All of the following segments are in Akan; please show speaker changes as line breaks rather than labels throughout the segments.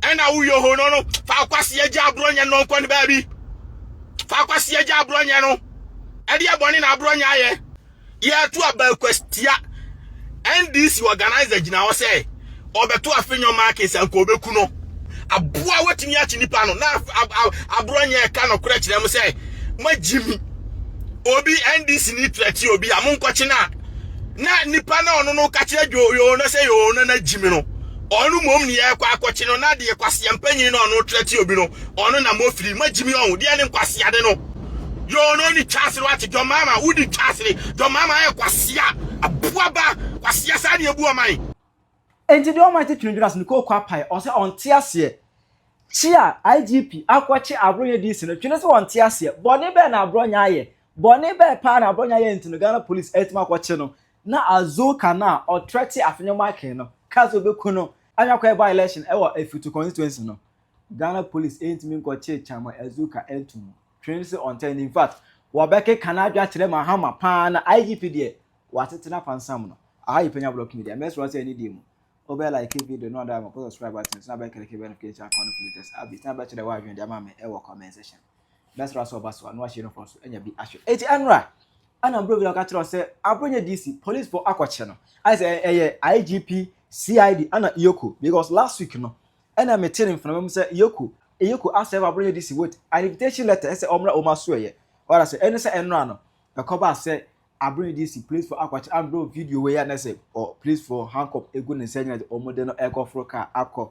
ɛna woyɛ hɔ no no fa akwasi agya aborɔ nyɛ no nkɔ ne baabi fa akwasi agya aborɔ nyɛ no ɛdeɛ bɔne na aborɔ nyɛ ayɛ yɛto abakwastia ndc organizer gyina hɔ sɛ ɔbɛto afenyɔ markins anka ɔbɛku no aboa watumi akye nipa no na aborɔ nyɛ ɛka nɔkorɛ kyerɛ mu sɛ moagye mi obi ndc ni trɛte obi a monkɔkye no a na nipa na ɔno no ka kyerɛ yoo no sɛ yoo no na gyi mi no Ɔno mmom ne yɛɛkɔ akɔkye no, na deɛ kwasea mpanyini na ɔno trɛ te obi no, ɔno na mo firi. Moagye me ɔho, deɛ ne nkwaseade no. Yɛ ɔno ɔne twasere wate, dɔmama, wodi twasere, dɔmama ayɛ kwasea, aboa ba, kwasea saa ne yɛbu ɔman. Enti deɛ
ɔman titiri dwene ase no kɔ kwapae, ɔsɛ ɔnte aseɛ. Kye a IGP akɔkye Abronya DC no, twene sɛ ɔnte aseɛ. Bɔne bɛn na Abronya ayɛ? Bɔne bɛn paa na Abronya ayɛ nti no Ghana Police atumi akɔkye no? Na Azuka no a ɔtrɛte Afenyo Michael no kaa sɛ obeku no anya kɔyɛ by election wɔ Afutu constituency no. Ghana police antumi nkɔkyee Chairman Azuka antu mu. Twene se ɔntɛn no infact wɔbɛkeka n'adwe akyerɛ Mahama paa na IGP deɛ watete no apansam no. Aha ye Penya Block Media, mɛsrɛ wo sɛ anidie mu wobɛ like video no na wada ama kɔ subscribe button so na bɛ click bɛ notification icon no pulitest updates na bɛkyerɛ w'adwene de ama me wɔ comment section. bɛsra sɛ ɔba so a na wahyɛ uniform so anya bi ahwɛ eti ɛnora ɛna bro bi na ɔka kyerɛ sɛ abro nyɛ dc police fo akɔkyɛ no ayɛ sɛ ɛyɛ igp cid ɛna yoko because last week no ɛna mete ne mframa mu sɛ yoko yoko asɛm abro nyɛ dc wait an invitation letter ɛsɛ ɔmra ɔma so ɛyɛ ɔra sɛ ɛne sɛ ɛnora no ɛkɔba sɛ Aber yi DC polisifo akɔkyere Andrew video wei a na sɛ polisifo handcuff egu ne nsa nyina dze wɔde no rekɔforo kaar akɔ.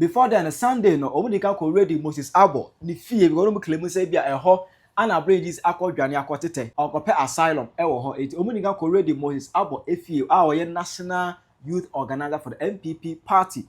Before then no Sunday no wɔn di kan kɔ Redi Moses Abbo ne fie because wɔn claim sɛ ebia ɛhɔ ana Abrigis akɔ dwane akɔ tetɛ, ɔkɔpɛ asylum wɔ hɔ enti wɔn di kan kɔ Redi Moses Abbo fie a ɔyɛ National Youth Organiser for the NPP Party.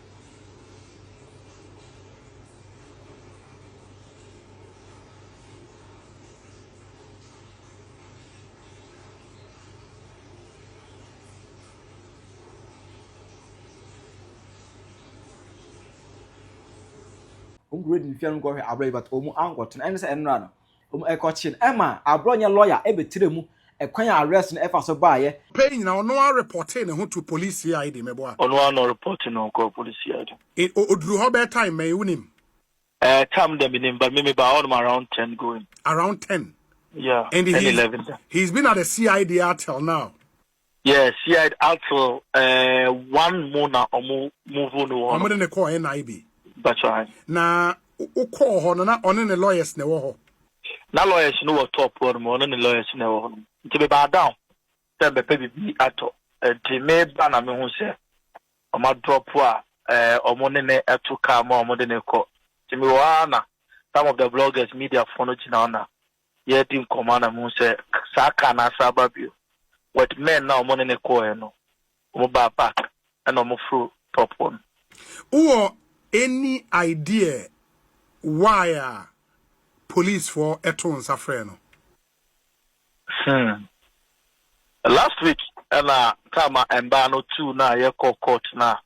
wɔn kura di nhwɛ no nkɔhwɛ abirɛ yi but wɔn ankɔtena ɛne sɛ ɛnora no Wɔn ɛkɔkye no ɛma abrɔ nyɛ lɔya ɛbɛtire mu ɛkwan a arrest no ɛfa so baayɛ. Pɛ yi nyinaa ɔno ara
repɔtee ne ho to police CID mɛboa. Ɔno ara na ɔrepɔte ne
ho kɔɔ police CID. E o oduru hɔ
bɛyɛ time bɛn wonim? Eh time
dɛ menim but me mebaa hɔ nom around ten going. Around ten? Yeah, And ten
he's
eleven da. he's been
at the CID ara till now? Yeah, Seaed
Altil eh, one mu na ɔmo move no wɔ hɔ no. Ɔmo de ne kɔɔ
NIB. That's right.
Na
wokɔɔ hɔ no na ɔne ne lawyers na ɛwɔ hɔ. Na lawyers
no wɔ top hɔ nom, ɔne ne lawyers na ɛwɔ hɔ nom. Nti mebaa down sɛ mbɛpɛ biribi atɔ. Nti meba na mehu sɛ ɔmo adrop a eh, ɔmo ne ne ɛto car mu a ɔmo de ne kɔ. Nti mewɔ hɔ ara na some of the bloggers, media foɔ no gyina hɔ na yɛredi nkɔmmɔ a na mehu sɛ saa car no asan aba bio. With men no a wɔn ne no kɔɔɛ no, wɔn baa back ɛna wɔn foro top hɔ no. Wowɔ
any idea why a police foɔ too nsa frɛɛ no? Hmm.
Last week ɛna time a mbaa no tuu no a yɛkɔɔ court no a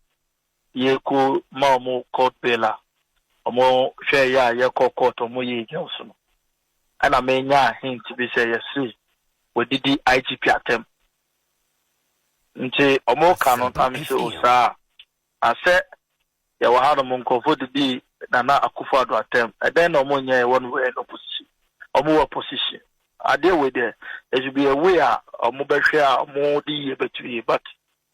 Yɛko ma wɔn court bail a, wɔn hwɛɛ yɛ a yɛkɔɔ court a wɔn yɛɛ gya so no, ɛna me nyaa hint bi sɛ yɛse wɔadidi IGP atɛm. Nti wɔn ka no na mese o saa a, na sɛ yɛwɔ ha nom nkorɔfoɔ didi Nana Akufo Addo atɛm, ɛdɛn na wɔn nyɛɛ when we were in opposition? Wɔn wɔ opposition. Adeɛ wei deɛ, it should be a way a wɔn bɛhwɛ a wɔn de yie bɛto yie but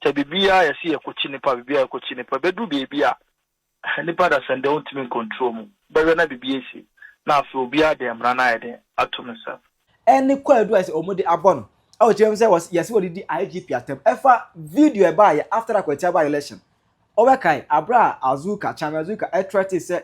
Sɛ biribiara yɛse yɛkɔkyi nnipa biribiara yɛkɔkyi nnipa ɛbɛduru baabi a nnipa dasani deɛ wontumi ncontrol mu bɛhwɛ na biribi asi na afei obiara de mmara no ayɛ dɛn ato ne nsam. Ɛne kwaadu a
ɛsɛ wɔde abɔ no a ɔkyerɛ mu sɛ yɛse wɔde di IGP atam. Ɛfa video a ɛbaeɛ after Akwatia by-election. Wobɛkae bere a Azuka, Chami Azuka threatened sɛ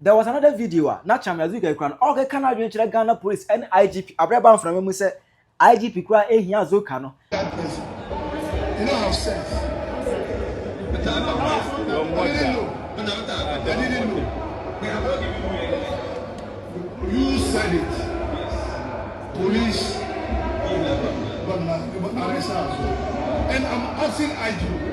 There was another video a na Chamia Zurgai kura no ɔrekeka n'adwene kyerɛ Ghana Police ne IGP Abrɛba mframa mu sɛ IGP koraa ehia Zulka no.
You said it. Police. But now, but now, and I'm asking IGP.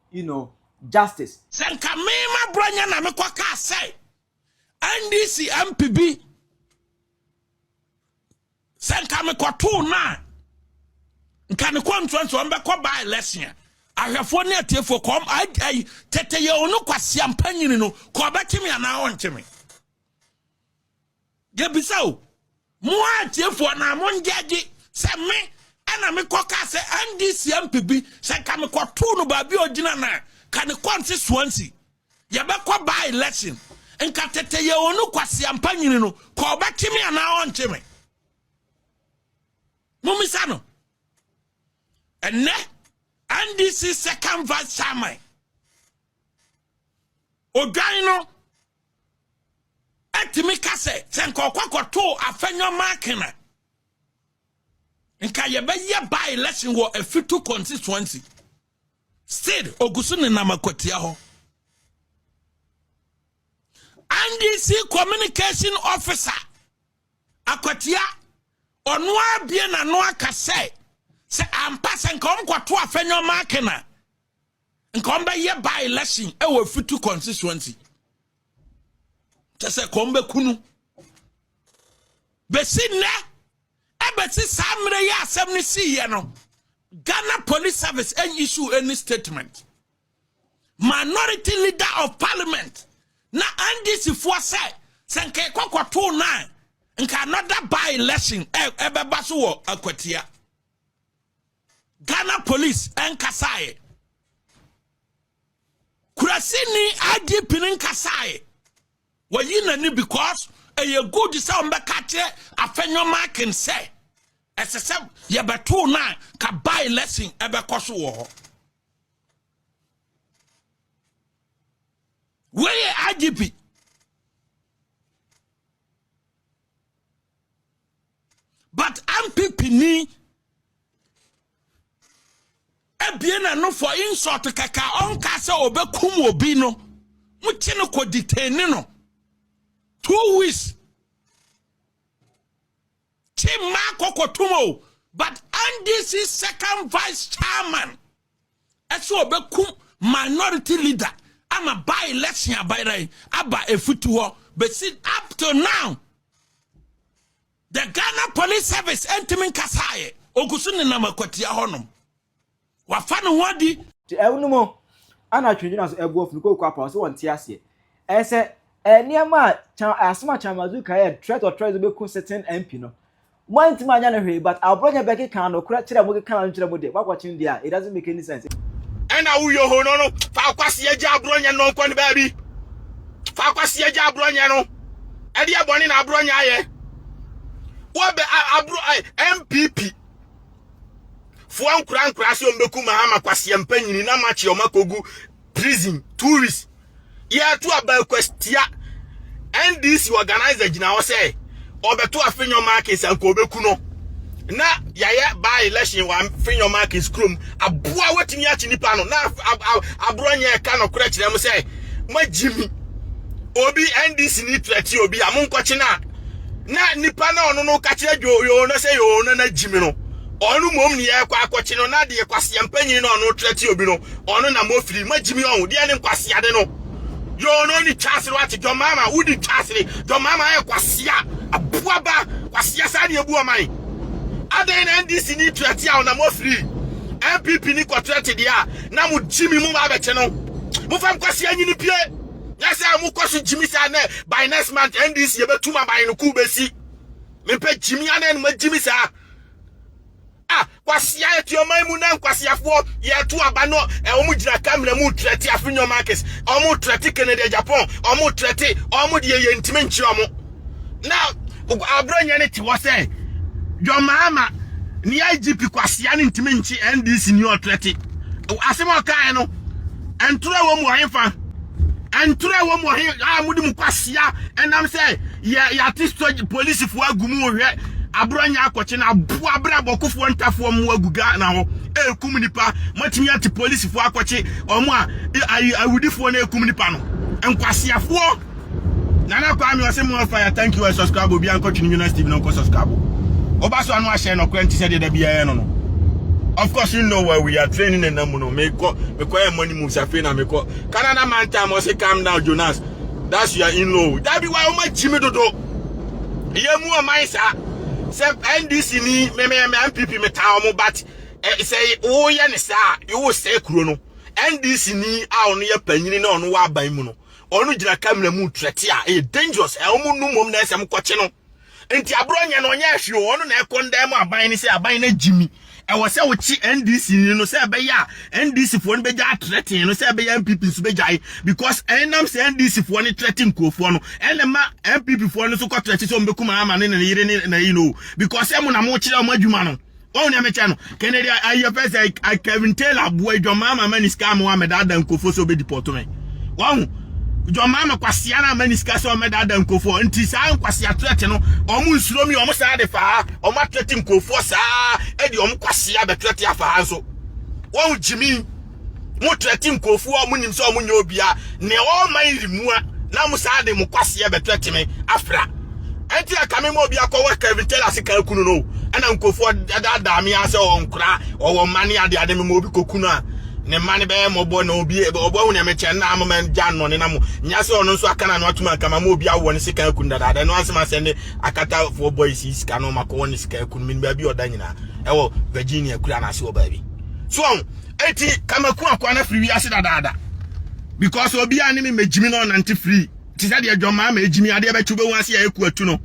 you know, justice. Sɛ nka me
m'aborɔnya na mekɔ kaa sɛ NDC MP bi sɛ nka mekɔtoo no a nka ne kɔntua nti ɔmbɛkɔ baa election a ahwɛfoɔ ne atiefoɔ kɔm ayi tete yɛ ɔno kwasiampa nyini no kɔ ɔbɛkye me anaa ɔnkye me yɛbisa o mo a atiefo anaa mo ngyɛgye sɛ me ɛna mekɔ ka sɛ ndc mp bi sɛ nka mekɔtoo no baabi a ɔgyina no a ka ne kɔnse soansi yɛbɛkɔ baa election nka tete yɛ ɔnu kwaseampa nyini no kɔ ɔbɛkye me anaa ɔnkye me momisa no ɛnɛ ndc second vice chairman odwan no tumi ka sɛ sɛ nka ɔkɔ kɔtoo afɛnyɔ maaken a nka yɛbɛyɛ by election wɔ afitu constituency still ogu so nenam akwatia hɔ ndc communication officer akwatia ɔno abie n'ano aka sɛ sɛ ampa sɛ nka wɔn kɔto afɛnyɔ maaken a nka ɔmbɛyɛ by election ɛwɔ fitu constituency kyɛ sɛ kɔn bɛkunu bɛsi nnɛ ɛbɛsi saa mmerɛ yɛ asɛm no siiɛ no ghana police service ɛn issue any statement minority leader of parliament na ndc foɔ sɛ sɛ nka ɛkɔkɔtoo no a nka another by election ɛbɛba so wɔ akwatia Ghana police ɛnkasaeɛ. Kurasini IGP no nkasaeɛ. Wɔyi n'ani because ɛyɛ good sɛ wɔbɛka kyerɛ afɛnyɔ marking sɛ ɛsɛ sɛ yɛbɛtoo no a ka by lesson ɛbɛkɔ so wɔ hɔ. Wei yɛ IGP. but ampipini abie n'ano for insult kɛkɛ a ɔnka sɛ ɔbɛkum obi no mokye no kɔ detain no two weeks kye mmaa kɔkɔtom o but ndc second vice chairman ɛsɛ ɔbɛkum minority leader ama by election abaeran aba ɛfiti hɔ bɛsi up till now the ghana police service ɛntimi nkasaeɛ ɔgu so nenam akwatia hɔnom wafa ne ho adi nti ɛwo no mu
ana twendwena so ɛboɔ funu kɔkɔ apa ɔsɛ wɔn te aseɛ ɛsɛ nneɛma a asoma kyamazu kaeɛ threat or threat bɛku certain mp no Moantumi anyɛ no hwee but aborɔ nyɛ bɛkeka nokorɛ kyerɛ mo keka no nkyerɛ mo deɛ moakɔkyen deɛ a it doesn't make any sense. Ɛna wo
yohono no fa kwaseɛ gya aborɔ nyɛ no nkɔ ne baabi fa kwaseɛ gya aborɔ nyɛ no ɛdeɛ bɔne na aborɔ nyɛ ayɛ wɔbɛ aborɔ MPP foɔ nkora nkora se ɔmbɛku mahama kwaseɛ mpanyini na makye ɔma kogu prison two weeks Yɛreto aba yi kwastia. NDC organizer gyina hɔ sɛ ɔbɛto Afenyo Markins anka ɔbɛku no. Na yɛayɛ by election wɔ Afenyo Markins kurom. Aboa watumi akye nipa no na aborɔ nyɛ ɛka nɔkorɛ kyerɛ mo sɛ moagye mi. Obi NDC ni trɛte obi a monkɔkye no a na nipa na ɔno no ka kyerɛ dwoyoo no sɛ yoo no na gye mi no. Ɔno mmom ne yɛkɔ akɔkye no na deɛ kwaseɛ mpanyin na ɔno trɛte obi no Ɔno na mofiri ma gyimi ɔho deɛ ne nkwaseade no yoo no ne twasere wate John Mahama wodi twasere John Mahama ayɛ kwasea aboa ba kwasea saa ne ebu ɔman adɛn na NDC ni trɛte a ɔna mofiri NPP ni kɔ trɛte deɛ a na mo gyimi mo ba abɛte no mo fam kwasea nyini pie nyɛ sɛ mo kɔ so gyimi saa nɛ by next month NDC yɛbɛtum aban no kuu bɛsi mepɛ gyimi anɛ no magyimi saa Ah kwasea yɛte ɔman mu na nkwaseafoɔ yɛto aba no wɔn gyina kamera mu trɛte afinyo markes wɔn trɛte kennedy japan wɔn trɛte wɔn deɛ yɛ ntumi nkye wɔn na abronyɛ ne te hɔ sɛ john mahama ne igp kwasea ne ntumi nkye ndc ne ɔtrɛte asɛm a ɔkaeɛ no ntorɔ wɔ mu ɔhefa Ntoro a ɛwɔ mu wɔ he a mode mu kwasea ɛnam sɛ yɛate sogye polisifoɔ agu mu hwɛ aborɔ nyɛ akɔkye na aboa abrɛ abɔkofoɔ ntafoɔ mmoa agu Ghana hɔ ɛrekum nnipa moatumi ate polisifoɔ akɔkye ɔmo a awudifoɔ no ɛrekum nnipa no nkwaseafoɔ Nana Kwame ɔse more fire thank you I subscribe obi ankɔtwe ne Jonas TV no nkɔ subscribe ɔba so ano ahyɛ nɔkorɛ nti sɛ deɛ da biara no no Of course, you know where we are training and namuno. Mekɔ mekɔ yɛ money moves afei na mekɔ Canada mantam ɔse calm down Jonas that's your in law dabi wa ɔma kyimi dodo yɛ mu ɔman saa sɛ NDC ni mɛmɛmɛ MPP meta ɔmo but sɛ woyɛ ne saa yɛwɔ sɛ kuro no NDC ni a ɔno yɛ panyini na ɔno wɔ aban mu no ɔno gyina kamera mu trɛte a ɛyɛ dangerous ɛ ɔmo nu mom na ɛsɛ mo kɔkye no nti aborɔ nyɛ no ɔnyɛ ahwee ɔno na ɛkɔndan mu aban no sɛ aban no agyimi ɛwɔ sɛ wokye NDC ni no sɛ ɛbɛyɛ a NDC foɔ no bɛgya atrɛten no sɛ ɛbɛyɛ NPP nso bɛgyae because ɛnam sɛ NDC foɔ no trɛte nkurɔfoɔ no ɛna ma NPP foɔ no nso kɔ trɛte sɛ ɔmbɛkum ama ne ne yere ne na yi no because ɛmo na mokyerɛ ɔmo adwuma no Wɔn nea mekyɛ no, Kennedy ayɛ pɛ sɛ eh, Kevin Taylor aboa John Mahama ma ne sika ama wɔamɛdaadaa nkurɔfoɔ sɛ ɔbɛdi pɔtɔ me. Wɔn John Mahama kwasia no ama ne sika sɛ ɔmɛdaadaa nkurɔfoɔ nti saa nkwasia trɛte no wɔn nsuro mi wɔn saa de faa wɔn atrɛte nkurɔfoɔ saa ɛde wɔn kwasia bɛtrɛte afaa nso. Wɔn gyimi. Mo trɛte nkurɔfoɔ a ɔmo nim sɛ ɔmo nyɛ obia neɛ ɔɔ man remua na mo saa de mo kwaseɛ bɛ trɛte me afra ɛnti na kame ma obi akɔ wɔ Kevin Taylor se kaa kunu no ɛna nkurɔfoɔ daadaa me a sɛ ɔnkora ɔwɔ mma ne ade ade me ma obi kɔ kunu a ne mma ne bɛyɛ mɔbɔ na obi ɔbɔ ahu neɛ mekyɛ na ama man gya nnɔne na mo nya sɛ ɔno nso aka na no atuma nkama ma obi awɔ ne se kaa kunu dadaada ɛno anse ma sɛnde akatafoɔ boys yi sika no makɔwɔ ne se kaa kunu me ne baabi ɔda nyinaa ɛwɔ Virginia kura no ase wɔ baabi so Eti kamaku akoa na firi wiase dadaada. Because obi a ne me megyimi na ɔnante firi te sɛ deɛ dwɔmaa ma egyimi adeɛ bɛkyew bɛhu ase a ɛku atu no.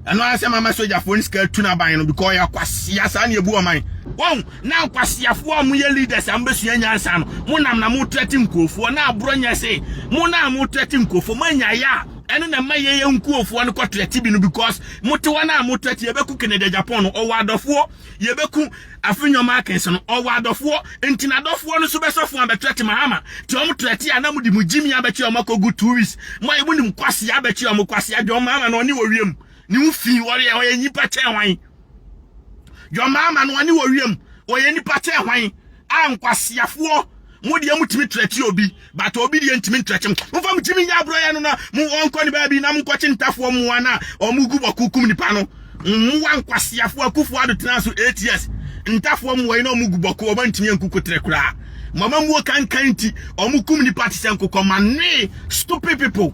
Ɛno ara sɛ mama sogyafoɔ no sika atu no aban no because ɔyɛ akwasia saa ne ebu ɔman. Wɔn na nkwasiafoɔ a moyɛ leaders a mobɛsua nyansa no mo nam na mo trɛte nkurofoɔ na aborɔ nyɛ se mo na mo trɛte nkurofoɔ mo anya yɛ a ɛno na ɛma yɛyɛ nkurofoɔ no kɔ trɛte bi no because mo te hɔ na mo trɛte yɛbɛku Kennedy Agyapong no ɔwɔ adɔfoɔ yɛbɛku Afe nneɛma akɛn sɛ no, ɔwɔ adɔfoɔ, nti n'adɔfoɔ no nso bɛsɔ fon abɛtrɛte mo ama, nti wɔn trɛte a na mode mo gyimii abɛkye wɔn akɔgu two weeks, moayɛ monim kwasea abɛkye wɔn, kwasea, John Mahama no ɔne wɔ wiem, ne ho fii, ɔyɛ ɔyɛ nnipa kyɛn hwan? John Mahama no ɔne wɔ wiem, ɔyɛ nnipa kyɛn hwan? Ah nkwaseafoɔ. mo deɛ motumi trɛte obi but obi deɛ ntumi ntrɛte mo momfa mo tumi nyɛ aborɔyɛ no na mo ɔnkɔ ne baabi na monkɔkye ntafoɔ mmoa no a ɔmogu bɔko kum nipa no mmoa nkwaseafoɔ akufoɔ ado tena so ats ntafoɔ mmoa yi na ɔmogu bɔko ɔma ntumi anku koterɛ koraa mama muo kankan nti ɔmo kum nipa te sɛ nkokɔ ma noe stupid people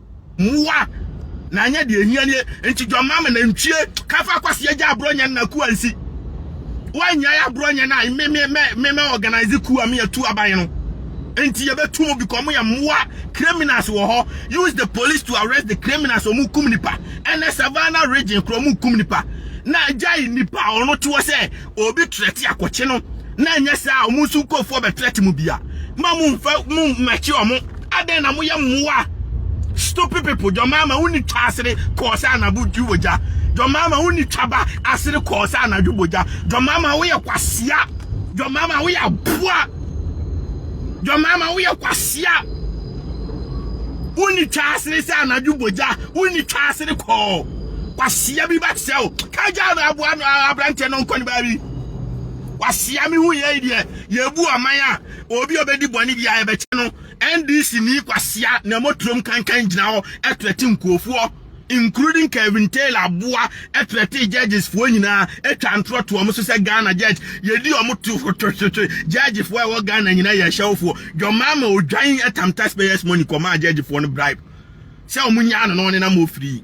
mmoa na anyɛ deɛ ɛhia nie nti dwammaa ma nantwie ka fa kwasi agya aborɔ nyɛ na kuwa nsi woanyae aborɔ nyɛ na me me me me me organize kuwa me atu aban no nti yɛbɛtu mu because mo yɛ mmoa criminals wɔ hɔ use the police to arrest the criminals ɔmo kum nipa ɛnɛ savannah region kura ɔmo kum nipa na agyae nipa ɔno teɔ sɛ obi trɛte akɔkye no na ɛnyɛ saa a wɔn nso nkurɔfoɔ bɛtrɛte mu bia ma mo mfa mo mmɛkye wɔn adɛn na moyɛ mmoa stupid people dwamaama wonni twa asere kɔɔ sɛ anabo dwi wɔ gya dwamaama wonni twa ba asere kɔɔ sɛ anadwo bɔ gya dwamaama woyɛ kwasea dwamaama woyɛ aboa dwamaama woyɛ kwasea wonni twa asere sɛ anadwo bɔ gya wonni twa asere kɔɔ Kwasea bi bɛteɛ o. Kagya no aboa no aberanteɛ no nkɔ ne baabi. Kwasea me hu yɛi deɛ yɛbu ɔman a obi ɔbɛdi bɔne bi a yɛbɛkyɛ no. NDC ni kwasea na mɔturom kankan gyina hɔ ɛtrɛte nkuofoɔ including Kevin Taylor aboa ɛtrɛte judges foɔ nyinaa ɛtwa ntorɔ to ɔmo so sɛ Ghana judge yɛdi ɔmo to hwetwetwetwe judge foɔ ɛwɔ Ghana nyinaa yɛ hyɛwofoɔ dwɔmaama odwan ɛtam taxpayers money kɔmaa judge foɔ no bribe sɛ ɔmo nyaa no na ɔne nam ofiri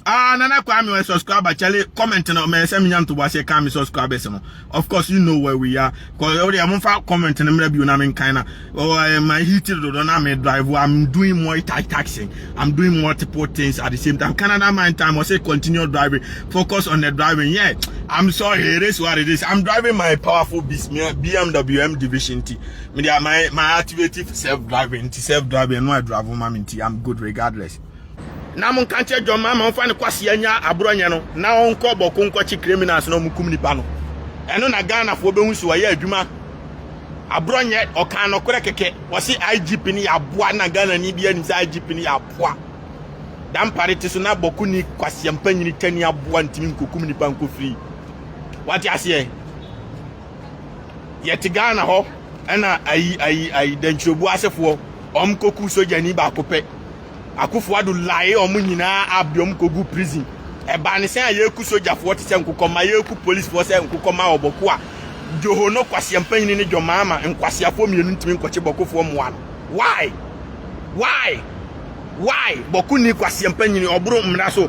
ah nana kwame ɔyɛ subscriber kyɛle comment no mɛ sɛ menya ntobo aseɛ kan me subscribers no of course you know where we are kɔyɛ wode ɛmo fa comment no mmerɛ bio na me nkan na ɔyɛ my heat dodo na me drive I'm doing multitasking I'm doing multiple things at the same time Canada my time I say continue driving focus on the driving yeah I'm sorry it is what it is I'm driving my powerful beast BMW M Division T me dia my my activative self driving nti self driving no adravo ma me nti i'm good regardless na mo nka nkyerɛ dwom ama ɔmfa ne kwase anya aborɔ nyɛ no na ɔnkɔ bɔko nkɔkye criminals na ɔmukum nipa no ɛno na ghanafoɔ bɛhu so ɔyɛ adwuma aborɔ nyɛ ɔka nɔkorɛ kɛkɛ wɔse igp no yɛ aboa na ghana ni bi anim sɛ igp no yɛ aboa dampare te so na bɔko ni kwaseɛ mpa nyini tani aboa ntimi nkɔkum nipa nkɔfiri wate aseɛ Yɛte Ghana hɔ na ayi ayi ayi dantwirobu asefoɔ wɔn kɔku sogyani baako pɛ. Akufo Addo lae wɔn nyinaa up de wɔn kɔgu prison. Ɛbaa ne sɛn a yɛku sogyafoɔ te sɛ nkokɔmma, yɛku policefoɔ sɛ nkokɔmma wɔ bɔko a, Dwoho no kwasia mpanyini ne Dwomaama nkwaseafoɔ mmienu ntumi nkɔkye bɔkofoɔ mmoa no. Why? Why? Why? Bɔko nni kwasia mpanyini, ɔboro mmara so.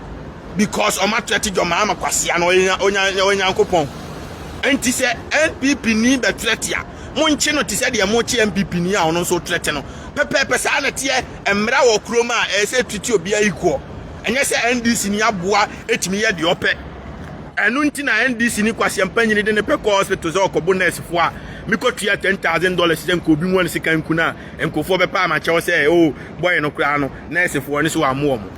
because ɔma threat dwom ama kwasea no ɔyɛ ɔyɛ ɔyɛ nyankopɔn nti sɛ npp ni bɛ threat a monkye no te sɛ deɛ mokye npp ni a ɔno nso threat no pɛpɛɛpɛ saa na teɛ mmara wɔ kurom a ɛyɛ sɛ treat obiara equal ɛnyɛ sɛ ndc ni aboa etumi yɛ deɛ ɔpɛ ɛno nti na ndc ni kwasea mpanyini de ne pɛ kɔ hospital sɛ ɔkɔbo nurse fo a mekɔ tua ten thousand dollars sɛ nka obi mu ne sika nku no a nkurɔfoɔ bɛpa ama kyɛw sɛ o oh, bɔyɛ no koraa no nurse foɔ ne so wɔamoɔ mo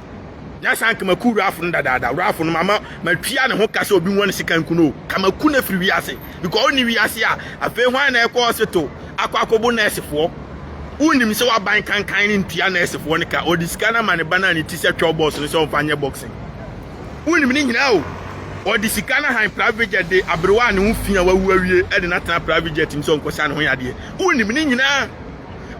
na saa nka maku wurafo no dadaada wurafo no mama matua ne ho ka sɛ obi nwa ne sika nku no ka maku no afiri wiase because ɔnni wiase a afei hwan na ɛkɔ hospital akɔ akɔbo nɛɛsefoɔ wonim sɛ waban kankan ne ntua nɛɛsefoɔ no ka ɔde sika no ama ne ba no a ne ti sɛ twɛw bɔs no sɛ ɔmfa nyɛ boxing wonim ne nyinaa o ɔde sika no han private jet de aberewa a ne ho fi a wawu awie ɛde no atena private jet mu sɛ ɔnkɔsa ne ho yadeɛ wonim ne nyinaa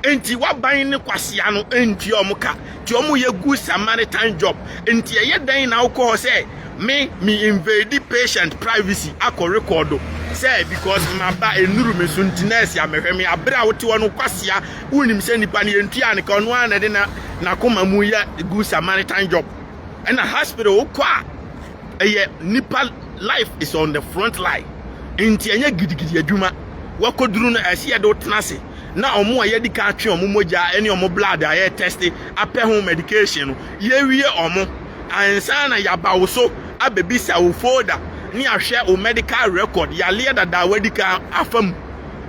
Enti w'aban ne kwasea no ntua wɔn ka nti wɔn yɛ good Samaritan job nti ɛyɛ dɛn na wokɔ hɔ sɛ me me invade patient privacy akɔ record sɛ because maba enuru me so nti nurse a mehwɛ me abere a wote hɔ no kwasea wonim sɛ nipa no yɛntua ne ka ɔno ara na ɛde na n'akoma mu yɛ good Samaritan job ɛna hospital wokɔ a ɛyɛ nipa life is on the front line nti ɛnyɛ gidigidi adwuma wakɔduru no ɛsɛ yɛde wo tena ase na ɔmo a yɛadi ka atwe ɔmo mogya ne ɔmo blood a yɛ test apɛ ho medication no yɛwie ɔmo ansa na yɛaba wo so abɛbisa wo folder ne ahwɛ wo medical record yareɛ dada a wadi ka afa mu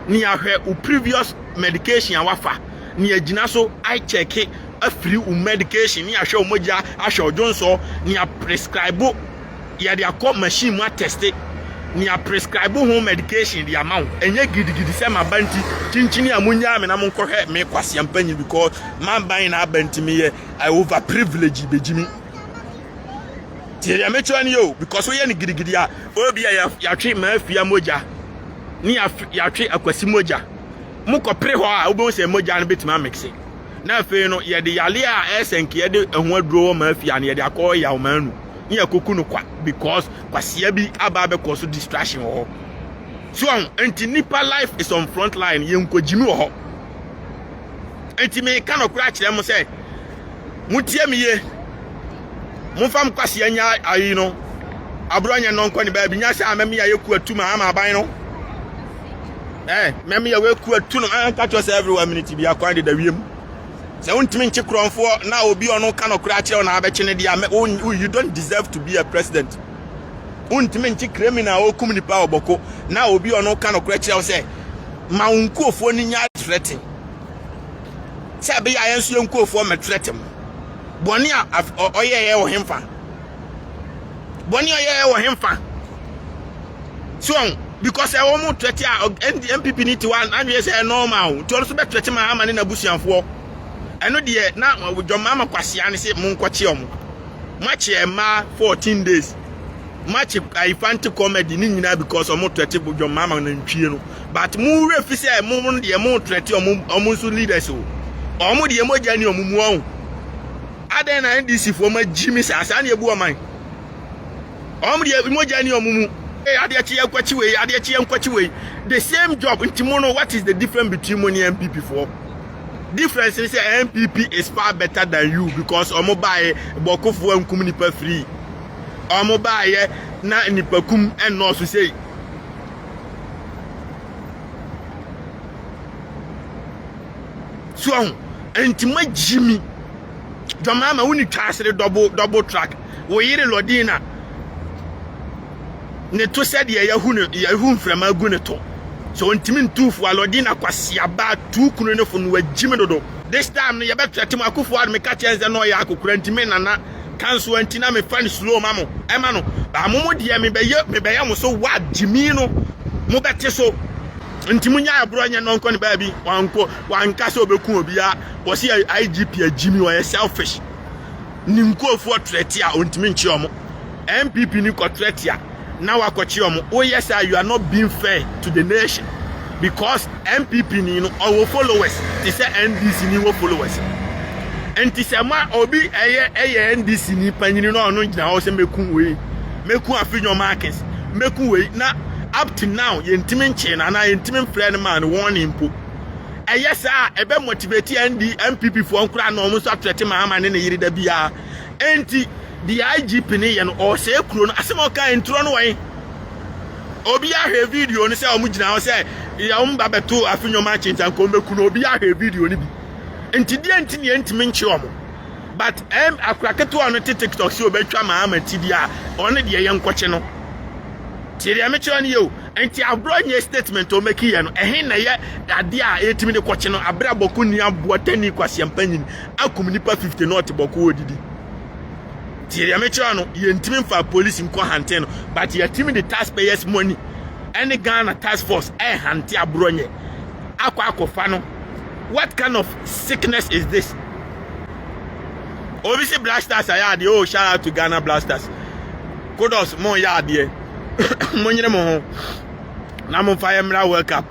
ne ahwɛ wo previous medication a wafa ne agyina so I check afiri wo medication ne ahwɛ wo mogya ahwɛ wo dwonsɔ ne a prescribe yɛde akɔ machine mu atɛste ne a prescribe ho medication de ama wo ɛnyɛ gidigidi sɛ maba nti kyinkyini a monyaa me na monkɔhwɛ me kwasea mpanyin because maban na aba nti meyɛ I over privilege bɛgyi me tie deɛ mekyerɛ no yɛ o because woyɛ no gidigidi a obi a yɛatwe maafia mogya ne yɛatwe akwasi mogya mokɔpere hɔ a wobɛhu sɛ mogya no bɛtumi amekse Na afei no, yɛde yare a ɛyɛ sɛ nka yɛde ɛho aduro wɔ maa fia no, yɛde akɔ yaw maa nu. Ne yɛkɔku no kwa because kwasia bi aba abɛkɔ so distraction wɔ hɔ. So ɔho, nti nipa life is on front line, yɛnkogyimi wɔ hɔ. Nti meka nɔkorɛ akyerɛ mo sɛ, motie me ye, momfa mo kwasia nya ayi no, aborɔ nyɛ nɔnkɔ ne baabi, nya sɛ amɛme ayɛ ku atum ama aban no. ɛɛ mɛmi a wɔaku atu no ɛnka kyerɛ sɛ everywhere minute bi akwan de da wiem sɛ wontumi nkye korɔnfoɔ na obi ɔno ka nɔkorɛ akyerɛ wo na abɛkye no deɛ a you don't deserve to be a president wontumi nkye criminal a ɔkum nipa ɔbɔko na obi ɔno ka nɔkorɛ kyerɛ wo sɛ ma wo nkuofoɔ no nya trɛte sɛ ɛbɛyɛ a yɛn nso yɛn nkuofoɔ mɛtrɛte mo bɔne a ɔyɛɛyɛ wɔ hemfa bɔne a yɛyɛ wɔ hemfa so ɔn because ɛwɔ mu tɛte a npp ne tiwa adwene sɛ normal nti ɔno nso bɛtɛte ma ama ne n'abusuafoɔ ɛno deɛ na dwɔma ama kwasea ne se monkɔkye ɔmo moakye mmaa 14 days moakye ayifante comedy ne nyinaa because ɔmo tɛte dwɔma ama nantwie no but mo werɛ fi sɛ mo deɛ mo tɛte ɔmo ɔmo nso leaders o ɔmo deɛ mogya ni ɔmo mu ɔn Adɛn na NDC foɔ ma gyi me saa, saa na yɛbu ɔman. Wɔn deɛ mogya ni wɔn mu. Ee adeɛ kyeɛ nkwakyi wei adeɛ kyeɛ nkwakyi wei the same job nti mo no what is the difference between mo ne NPP foɔ difference ni sɛ NPP is far better than you because ɔmo baayɛ bɔkofoɔ nkum nipa free ɔmo baayɛ na nipa kum ɛnɔɔso sei so ɔho ɛnti ma gyimi dɔmaa ma woni twaasere double double track wo yere lɔdin na ne to sɛdeɛ yahu ne yahu mframa gu ne to so ɔntimi ntuufo a lɔdin na kwasi abaa tuu kunu ne fo no wagyimi dodo this time no yɛbɛtrɛte mu akufo ado meka kyerɛ nsɛ na ɔyɛ akokora nti me nana kanso anti na mefa ne slow ma mo ɛma no baa mo mo deɛ mebɛyɛ mebɛyɛ mo so wa gyimi no mobɛte so nti mo nya ɛborɔ nyɛ no nkɔ ne baabi wankɔ wanka sɛ ɔbɛku obiara wɔsi igp agyimi ɔyɛ selfish ne nkurɔfoɔ trɛte a ɔntumi nkye ɔmo npp ni kɔ trɛte a na wakɔkye ɔmo woyɛ sɛ you are not being fair to the nation because npp ni no ɔwɔ followers te sɛ ndc ni wɔ followers nti sɛ ma obi ɛyɛ ɛyɛ ndc ni panyini na ɔno gyina hɔ sɛ mɛku wei mɛku afi nyɔma akins mɛku wei na up to now yɛntumi nkyee no anaa yɛntumi mfrɛɛ no maa no warning mpo. Ɛyɛ saa a ɛbɛ motivate ND NPP foɔ nkoraa na wɔn nso atrɛte Mahama ne ne yere da biara. Enti deɛ IGP no yɛ no ɔresɛe kuro no asɛm a ɔka ntorɔ no wɔn. Obiara hwɛ video no sɛ wɔn gyina hɔ sɛ yɛ wɔn ba bɛto afi nneɛma akyi nti anka wɔn bɛku no obiara hwɛ video no bi. Nti deɛ nti ne yɛntumi nkye wɔn. But ɛm akora ketewa ɔno te tiktok sɛ ɔbɛtwa maa ama ti deɛ a ɔno deɛ yɛ nkɔkye no tie deɛ mekyerɛ no yɛ o nti aborɔ nyɛ statement o mɛki yɛ no ɛhe na yɛ adeɛ a yɛtumi de kɔkye no aberɛ a bɔko ni aboa tani kwaseɛmpa nyini akum nipa 50 na ɔte bɔko ɔdidi tie deɛ mekyerɛ no yɛntumi mfa polisi nkɔ hante no but yɛtumi de taxpayers money ɛne Ghana task force ɛhante aborɔ nyɛ akɔ akɔfa no what kind of sickness is this obi si blasters ayɛ adeɛ oh shout out to ghana blasters kudos mo yɛ adeɛ mo nyere mo ho na mo fa yɛ mmra world cup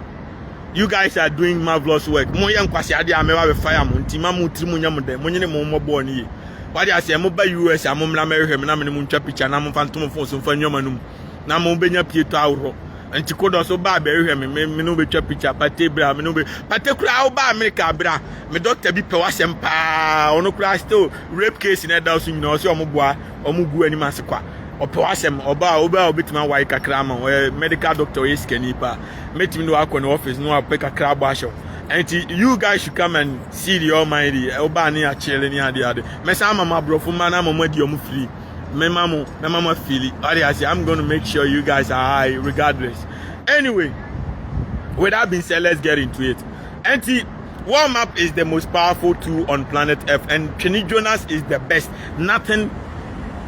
you guys are doing marvelous work mo yɛ nkwasi adeɛ a mɛba bɛ fire mo nti ma mo tiri mo nyɛ mo dɛ mo nyere mo mmɔ bɔɔl no yie wade aseɛ mo ba us a mo mmra mɛhwehwɛ mo na mo ne mo ntwa picture na mo fa ntomo fon so mfa nneɛma no mu. na mo bɛnya pieto ahoroɔ nti kodɔ so baa bɛhwehwɛ me me ne wobɛtwa picture pate bra me ne wobɛ pate koraa wobaa amerika bra me dɔkta bi pɛ wasɛm paa ɔno koraa still rape case na ɛda so nyina ɔsɛ ɔmo boa ɔmo gu anim ase kwa ɔpɛ wasɛm ɔbaa wobaa wobɛtumi awae kakra ama ɔyɛ medical doctor ɔyɛ sikani paa mɛtumi de wakɔ ne office no wapɛ kakra abɔ ahyɛ wo nti you guys should come and see the almighty wobaa ne akyele ne ade ade mɛsan ama mo aborɔfo mma no ama mo adi ɔmo free me mama me mama fili ɔde ase i'm gonna make sure you guys are high regardless anyway with that being said let's get into it ɛnti warm up is the most powerful tool on planet earth and twene jonas is the best nothing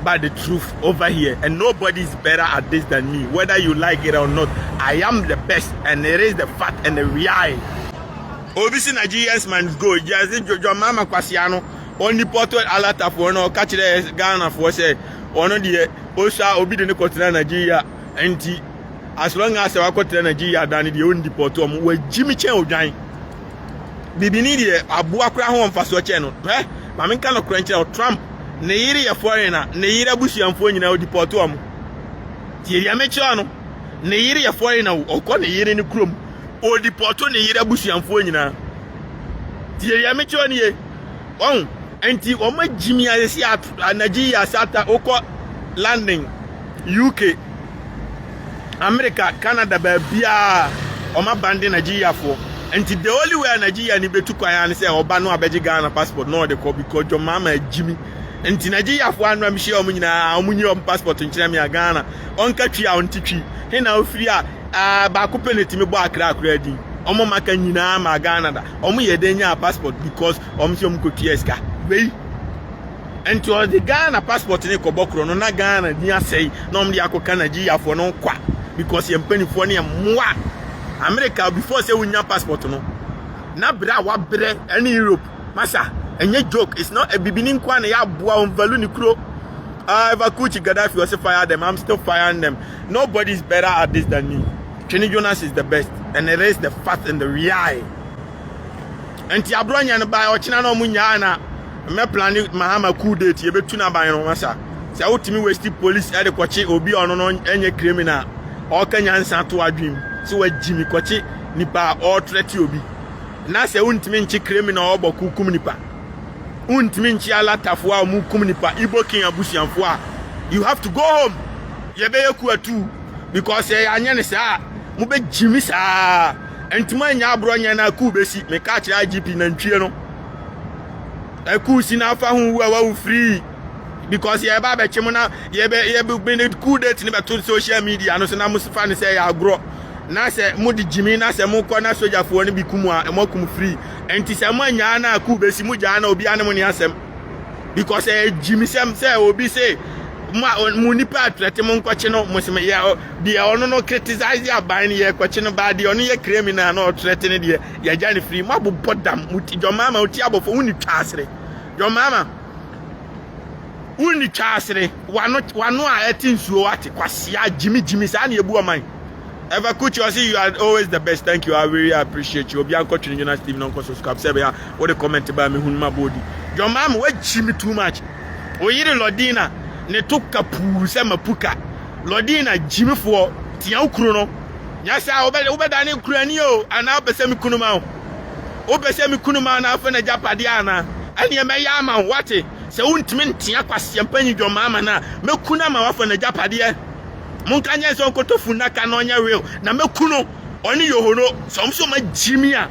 but the truth over here and nobody is better at this than me whether you like it or not i am the best and it is the fact and the reality obi si nigerians must go just jojo mama kwasiano ɔne Porto Alatafoɔ no ɔka kyerɛɛ Ghanafoɔ sɛ ɔno deɛ ɔsua obi de ne kɔtena Nigeria nti as long as wakɔtena Nigeria da ne deɛ ɔndi Porto ɔmo wagyi me kyɛn odwan bibini deɛ aboa koraa ho mfasoɔ kyɛn no hwɛ ma menka no korɛ nkyerɛ Trump ne yere yɛ foreign a ne yere abusuamfoɔ nyinaa ɔdi Porto ɔmo tie deɛ mekyerɛ no ne yere yɛ foreign a ɔkɔ ne yere ne kurom ɔdi Porto ne yere abusuamfoɔ nyinaa tie deɛ mekyerɛ no yie Wahu? Enti wɔagye me ayɛ sɛ ato anagye yi ase ata wokɔ London, UK, America, Canada, baabiara wɔabande Nigeriafoɔ. Enti the only way a Nigeriani bɛtu kwan ara ne sɛ ɔba no abɛgye Ghana passport na ɔde kɔ because John Mahama agye me. Enti Nigeriafoɔ ano a mehyia wɔn nyinaa wɔn nyi wɔn passport nkyerɛ me a Ghana ɔnka twi a ɔnte twi he na ofiri a ah, baako pɛ na ɛtumi bɔ Accra koraa din. Wɔn maka nyinaa maa Ghana da. wɔn yɛ dɛ nyaa passport because wɔn sɛ wɔn kɔ tua sika wei nti ɔde ghana passport ne kɔbɔ korɔ no na ghana ni asɛe na wɔn de akɔka nigeriafoɔ no kwa because yɛn mpanimfoɔ ne mmoa america before sɛ wonya passport no na berɛ a wabrɛ ɛne europe masa ɛnyɛ joke it's not ebibini nkoa na yɛ aboa wɔn value ne kuro. Uh, Evakuchi Gaddafi was a fire them. I'm still firing them. Nobody's better at this than me. Twene Jonas is the best and it is the fact and the real. Nti abro nya no baa ɔkyena na ɔmo nyaa na mɛ plan Mahama cool date yɛ betu na ban no masa. Sɛ wotumi waste police ɛde kɔkye obi ɔno no ɛnyɛ criminal. Ɔka nyansa to adwem sɛ wagyi mi kɔkye nipa ɔɔtrɛte obi. Na sɛ wontumi nkye criminal ɔbɔ ko kum nipa. Wontumi nkye alatafo a ɔmo kum nipa Igbo king abusuafo a you have to go home. Yɛbɛyɛ ku atuu. because sɛ yɛanyɛ no saa a mobɛgye me saa ɛnti moanyɛ aborɔ nyɛ no akuu bɛsi meka kyerɛ igp nantwie no akuu si no afa ho wu a wawu free because yɛba abɛkye mo na yɛbɛbɛne cool date no bɛto social media no so na mofa no sɛ yɛ agorɔ na sɛ mode gyimi na sɛ mokɔ na sogyafoɔ no bi kum a moakum free ɛnti sɛ moanyaa no akuu bɛsi mogyaa na obiara ne mo ne asɛm because ɛyɛ gyimisɛm sɛ obi se mo a mo nipa atrɛte mo nkɔkye no mo se mo yɛ deɛ ɔno no criticize de aban no yɛ kɔkye no baa deɛ ɔno yɛ criminal na ɔtrɛte no deɛ yɛgya no firi mo abobɔ dam mo ti John Mahama ɔti abɔfo wo ni twa asere John Mahama wo ni twa asere wano wano a ɛte nsuo wate kwasea gyimi gyimi saa na ebu ɔman. Ever Kuchi ɔsi you are always the best thank you I really appreciate you obiara nkɔtwe ne Jonas TV na ɔnkɔ subscribe sɛ ɛbɛyɛ a wode comment baa me hunu ma boodi John Maame wagyi me too much oyere Lodina ne to ka puu sɛ mapuka Lodina gyimifoɔ tia wo kuro no nyɛ saa wobɛda ne kurani o anaa wopɛ sɛ me kunu ma wo wopɛ sɛ me kunu ma na afei na gyapadeɛ anaa ɛneɛ mɛyɛ ama wo wate sɛ wontumi ntea kwaseɛmpa nyi John Maame no a mɛku no ama woafa na gyapadeɛ Monka nyɛ sɛ ɔnkɔtɔ funnaka na ɔnyɛ real na mɛku no ɔne yohoro sɛ ɔm sɛ ɔma gyimi a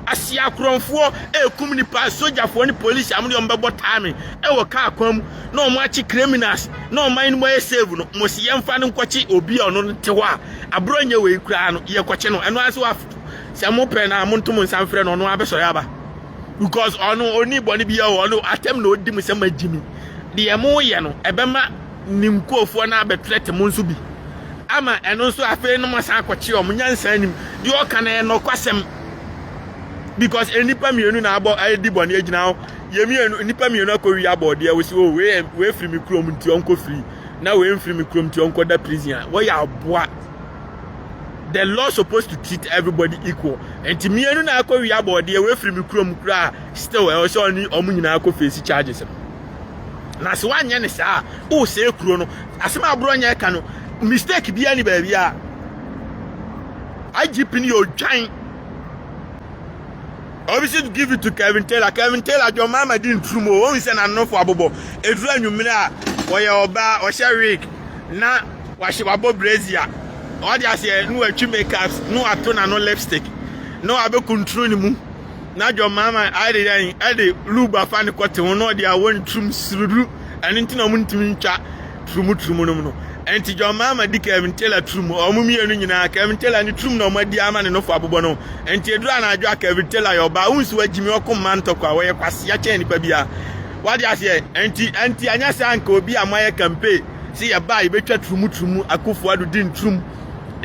ase akorɔmfoɔ ɛrekum nipa sogyafoɔ ne police a mode ɔm bɛbɔ taa me ɛwɔ kaa kwan mu na ɔm akye criminals na ɔman no mu ayɛ save no mo se yɛmfa no nkɔkye obi a ɔno no te hɔ a aborɔ nyɛ wei koraa no yɛkɔkye no ɛno ase wafo sɛ mo pɛ na mo nto mo nsa mfrɛ no ɔno abɛsɔre aba because ɔno ɔni bɔne biara ɔno atɛm na ɔdi mo sɛ magyimi deɛ mo yɛ no ɛbɛma ne nkurofoɔ no abɛtrɛte mo nso bi, ama ɛno nso afei no moasan akɔkye wɔn, nyansa anim, deɛ ɔka no yɛ nɔkwasɛm, because nnipa mmienu na abɔ adi bɔne agyina hɔ, yɛ mmienu, nnipa mmienu akɔwi abɔdeɛ, wo sɛ o, wei wei firi me kurom nti ɔnkɔ firi, na wei mfiri me kurom nti ɔnkɔ da prison a, wɔyɛ aboa. The law supposed to treat everybody equal. Nti mmienu na akɔwi abɔdeɛ, wei firi me kurom koraa, still ɛwɔ sɛ ɔne ɔmo nyinaa kɔ face charges no. na sɛ woanyɛ ne saa a wosɛe kuro no asɛm a aborɔ nyɛ ɛka no mistake biara ni baabi a igp no yɛ odwan obviously to give it to kevin taylor kevin taylor john mama di nturu mu wɔn sɛ n'anofo abobɔ eduru anwummerɛ a wɔyɛ ɔbaa ɔhyɛ wig na wahyɛ wabɔ brazier ɔde aseɛ na watwi makeups na wato n'ano lipstick na wabɛkunturu ne mu na John Maama ayɛ yɛn ɛde lube afa ne kɔte ho na ɔde awɔ ne tirim siruduru ɛno nti na wɔn ntumi ntwa turumu turumu nom no ɛnti John Maama di Kevin Taylor turumu wɔn mmienu nyinaa Kevin Taylor ne turumu na wɔn adi ama ne nofo abobɔ no ɛnti eduru anadwo a Kevin Taylor yɛ ɔbaa wɔn nsi wɔ gyimi ɔko mma ntɔkwa wɔyɛ kwasea kyɛn nipa bia wade aseɛ ɛnti ɛnti anyɛ saa nka obi a mo ayɛ kampe si yɛ baa yɛ bɛtwa turumu turumu akufo ado di nturumu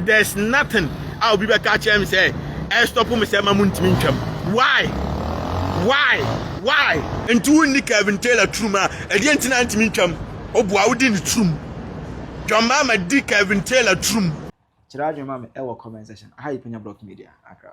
There's nothing a obi bɛka akyerɛ me sɛ ɛstɔpo me sɛ ma mo ntumi ntwam. Why? Why? Why? Nti wonni Kevin Taylor turum a ɛdeɛ nti na ntumi ntwam? Obua wodi ne turum. John Mahama di Kevin
Taylor
turum. Kyerɛ
adwene ma me
ɛwɔ
comment section. Aha yɛ
Panya
Block Media.
Akra.